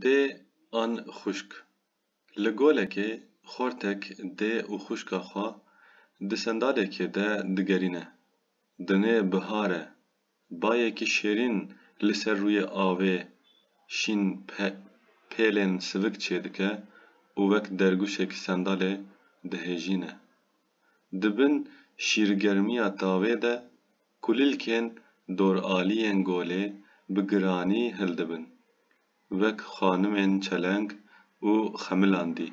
Dê an xwişk. Li golekê xortek dê û xwişka xwe di sendalekê de digerîne. Dinê bihar e. Bayekî şêrîn li ser rûyê avê şîn pêlên sivik çêdike û wek dergûşek sendalê dihêjîne. Di bin şîrgermiya tavê de kulîlkên doraliyên golê bi giranî hildibin, wek xanimên çeleng û xemilandî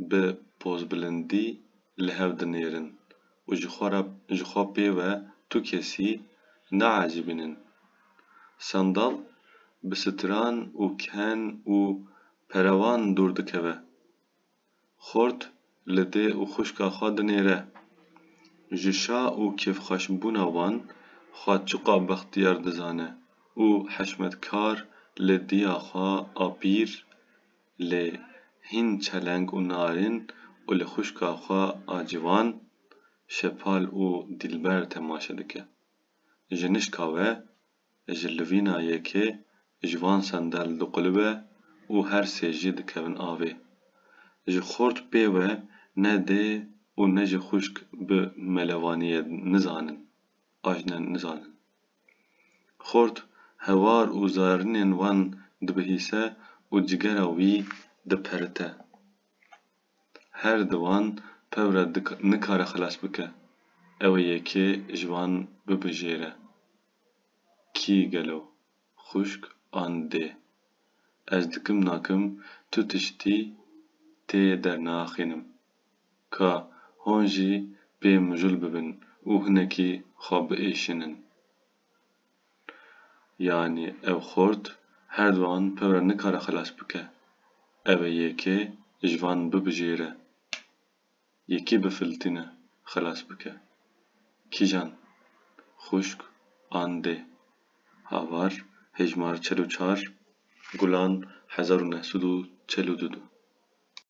bi pozbilindî li hev dinêrin û ji xwe re ji xwe pê ve tu kesî naecîbînin. Sandal bi stran û ken û perevan dûr dikeve. xort li dê û xwişka xwe dinêre. Ji şa û kêfxweşbûna wan xwe çiqas bextiyar dizane û hişmetkar li diya xwe a pîr lê hîn çeleng û narin û li xwişka xwe a ciwan şepal û dîlber temaşe dike. Ji nişka we ji livîna yekê ji van sendel diqulûbe û her sê jî dikevin avê. Ji xort pê we ne dê û ne jî xwişk bi melevaniyê nizanin, ajne nizanin. Xort hewar û zarinên wan dibihîse û cigera wî diperite. Her di wan pewre nikare xilas bike, ew ê yekê ji wan bibijêre. Kî gelo? Xwişk an dê? Ez dikim nakim tu tiştî tê dernaxînim. Ka hûn jî pê mijûl bibin û hinekî xwe biêşinin. Yanî ev xort her duan pevre nikare xelas bike. Ev ê yekê ji van bibijêre. Yekê bi filtîne xilas bike. Kîjan? Xuşk an dê? Havar Hejmar çel û çar, Gulan hezar û neh sed û çel û du du.